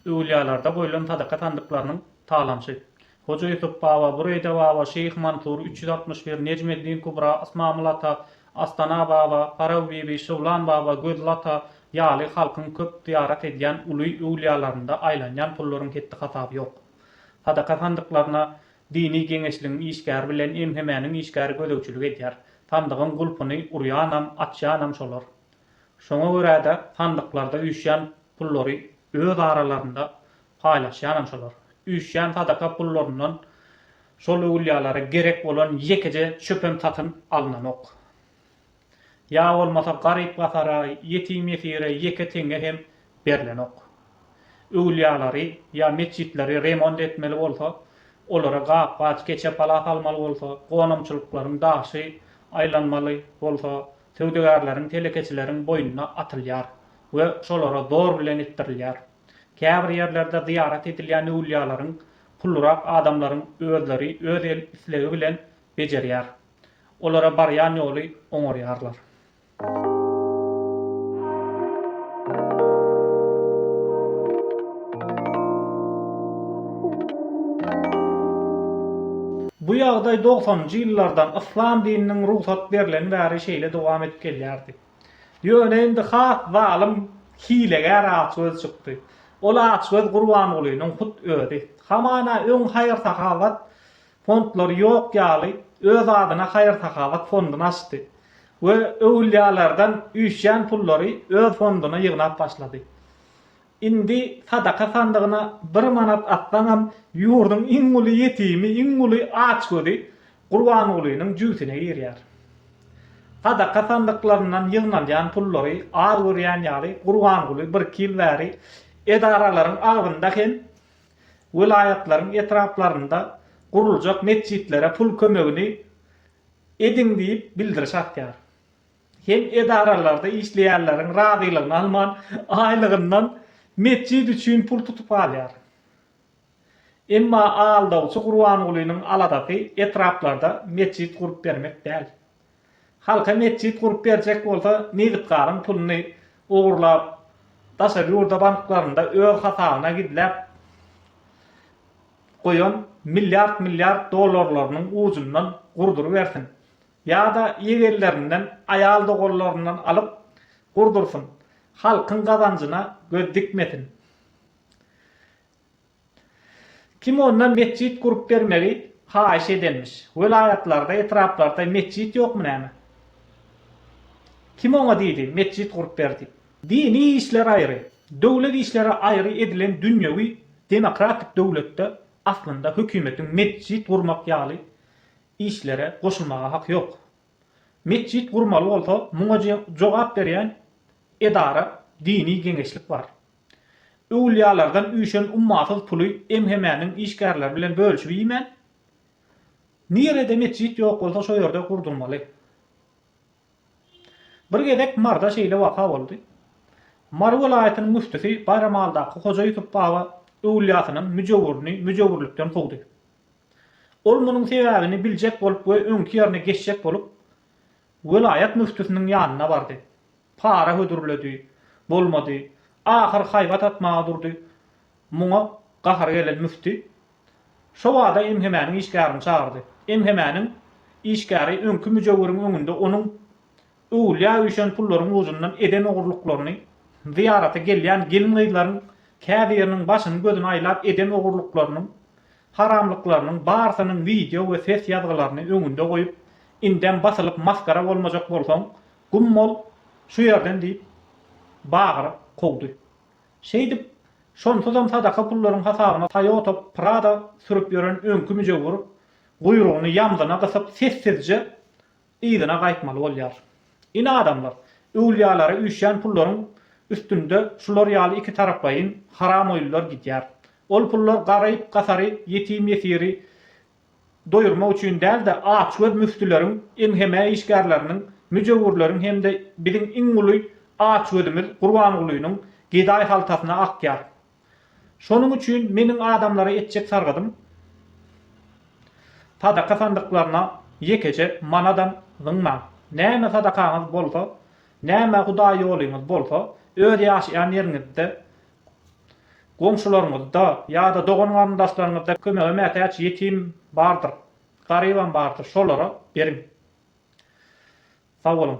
Öwülýalarda goýlan sadaka sandyklarynyň talansy. Hoja Ýusup baba, Bureyde baba, Şeýh Mansur, üç ýüz altmyş bir, Nejmeddin Kubra, Ysmamyl ata, Astana baba, Paraw bibi, Şyglan baba, Gözli ata ýaly halkyň köp zyýarat edýän uly öwülýalarynda aýlanýan pullaryň hetdi-hasaby ýok. Sadaka sandyklaryna dini geňeşligiň işgäri bilen MHM-niň işgäri gözegçilik edýär. Sandygyň gulpuny urýanam, açýanam şolar. Şoňa görä-de, sandyklarda üýşýän pullary öz aralarynda paýlaşýanam şolar. Üýşýän sadaka pullaryndan şol öwülýälere gerek bolan ýekeje çöpem satyn alynanok. Ýa bolmasa garyp-gasara, ýetim-ýesire ýeke teňňe hem berlenok. Öwülýäleri ýa metjitleri remont etmeli bolsa, olara gap-gaç, keçe-pala salmaly bolsa, gonamçylyklaryň daşy aýlanmaly bolsa, Söwdagärleriň, telekeçileriň boýnuna atylýar we şolara zor bilen etdirilýär. Käbir ýerlerde zyýarat edilýän öwlýalaryň pullyrak adamlaryň özleri öz el islegi bilen bejerýär. Olara barýan ýoly oňarýarlar. Bu ýagdaý dogsanynjy ýyllardan yslam dininiň rugsat berlen bäri şeýle dowam edip gelýärdi. Ýöne indi has zalym, hilegär açgöz çykdy. Ol açgöz Gurbangulynyň hut özi. Hamana öň haýyr-sahawat fondlary ýok ýaly öz adyna haýyr-sahawat fonduny açdy we öwülýalardan üýşýän pullary öz fonduna ýygnap başlady. Indi sadaka sandygyna bir manat atsaňam, ýurduň iň uly ýetimi, iň uly açgözi Gurbangulynyň jübüsine girýär. Sadaka sandyklaryndan ýygnalýan pullary az görýän ýaly, Gurbanguly birki ýyl bäri edaralaryň agzynda hem welaýatlaryň etraplarynda guruljak metjitlere pul kömegini ediň diýip bildiriş asýar. Hem edaralarda işleýänleriň razylygyny alman, aýlygyndan metjit üçin pul tutup alýar. Emma aldawçy Gurbangulynyň aladasy etraplarda metjit gurup bermek däl. Halka metjit gurup berjek bolsa, nebitgazyň puluny ogurlap, daşary ýurda banklarynda öz hasabyna gizläp goýan milliard-milliard dollarlarynyň ujundan gurdurybersin. Ýa-da ýegenlerinden, aýal-doganlaryndan alyp gurdursyn. Halkyň gazanjyna göz dikmesin. Kim ondan metjit gurup bermegi haýyş edenmiş? Welaýatlarda, etraplarda metjit ýokmy näme? Kim oňa diýdi, metjit gurup ber diýip? Dini işler aýry, döwlet işleri aýry edilen dünýewi demokratik döwletde aslynda hökümetiň metjit gurmak ýaly işlere goşulmaga hak ýok. Metjit gurmaly bolsa muňa jogap berýän edara dini geňeşlik bar. Öwülýalardan üýşen ummasyz puly MHM-niň işgärleri bilen bölüşip iýmän, nirede metjit ýok bolsa şo ýerde gurdurmaly. Bir gezek Maryda şeýle waka boldy. Mary welaýatynyň müftüsi Baýramaldaky Hoja Ýusup baba öwülýasynyň müjewürini müjewürlikden kowdy. Ol munuň sebäbini biljek bolup we öňki ýerine geçjek bolup, welaýat müftüsiniň ýanyna bardy. Para hödürledi, bolmady. Ahyr haýbat atmaga durdy. Muňa gahary gelen müfti şo bada MHM-niň işgärini çagyrdy. MHM-niň işgäri öňki müjewwiriň öňünde onuň Öwülýä üýşen pullaryň ujundan eden ogurlyklaryny, zyýarata gelýän gelin-gyzlaryň käbiriniň başyny-gözüni aýlap eden ogurlyklarynyň, haramlyklarynyň barsynyň wideo we ses ýazgylaryny öňünde goýup, indem basylyp masgara bolmajak bolsaň, gum bol şu ýerden diýip, bagyryp kowdy. Şeýdip, şonsuzam sadaka pullaryň hasabyna Toyota Prado sürüp ýören öňki müjewür guýrugyny ýamzyna gysyp sessizje yzyna gaýtmaly bolýar. Ine adamlar, öwlýalara üýşýän pullaryň üstünde şular ýaly iki taraplaýyn haramoýlylar gidýär. Ol pullar garyp-gasary, ýetim-ýesiri doýurmak üçin däl-de, açgöz müftüleriň, MHM işgärleriniň, müjewürleriň hem-de biziň iň uly açgözümiz Gurbangulynyň gedaý haltasyna akýar. Şonuň üçin meniň adamlara etjek sargadym, sadaka sandyklaryna ýekeje manadam zyňmaň. Näme sadakaňyz bolsa, näme Hudaý ýoluňyz bolsa, öz ýaşaýan ýeriňizde, goňşularyňyzda ýa-da dogan-garyndaşlaryňyzda kömege mätäç ýetim bardyr, garybam bardyr, şolara beriň. Sagboluň!